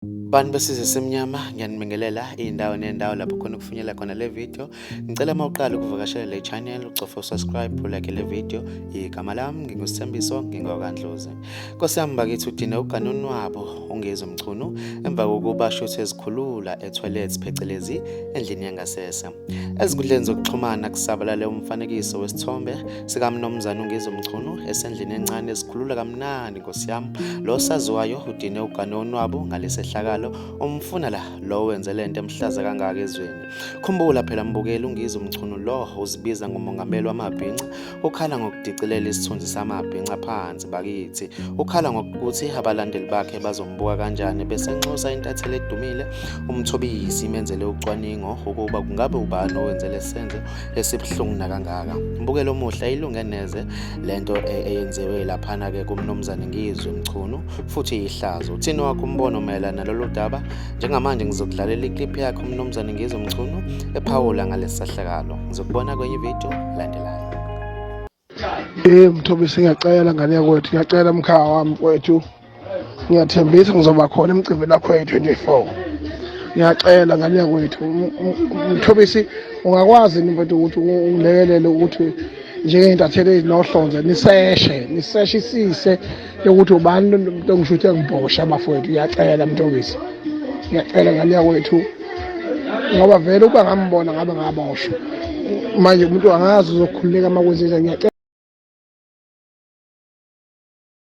Bantu besizwe semnyama ngiyanibingelela iy'ndawo ney'ndawo lapho khona ukufinyela khona le video ngicela uma uqala ukuvakashela le channel ucofe usubscribe ulike le video igama lami ngingusithembiso ngingokandlozi nkosi yami bakithi udine ugane unwabo ungezi umchunu emva kokuba shuthi ezikhulula etoilet phecelezi endlini yangasese Ezinkundleni zokuxhumana kusabalale umfanekiso wesithombe sikamnumzane uNgizo Mchunu esendlini encane esikhulula kamnandi nkosi yami lo saziwayo udine ugane onwabu ngalesehlakalo umfuna la lo wenze lento emhlaza kangaka ezweni khumbula phela mbukeli uNgizo Mchunu lo uzibiza ngomongameli wamabhinca ukhala ngokudicilela isithunzi samabhinca phansi bakithi ukhala ngokuthi abalandeli bakhe bazombuka kanjani bese nxusa intatheli edumile umthobisi imenzele ucwaningo ukuba kungabe ubani owenze lesenze esibuhlungu nakangaka mbukelo omuhle ilunge neze lento e, eyenziwe laphana ke kumnumzane ngizwe mchunu futhi ihlazo uthini wakho umbono mayelana nalolu daba njengamanje ngizokudlalela iclip yakho umnumzane ngizwe mchunu ephawula ngalesahlakalo ngizokubona kwenye ivideo landela Eh Mthobisi ngiyacela ngane yakwethu, ngiyacela mkhaya wami kwethu. Ngiyathembisa ngizoba khona emcimbini lakho ye-24. Ngiyacela ngane yakwethu, Mthobisi ungakwazi yini mfethu ukuthi ungilekelele ukuthi njengey'ntatheli ezinohlonze niseshe, niseshe isise yokuthi ubani mntongisi uthi engibhosha bafowethu ngiyacela mntongisi ngiyacela ngane yakwethu ngoba vele ukuba ngambona ngabe ngaboshwa manje umuntu angazi uzokhululeka uma kwenzenza ngiyacela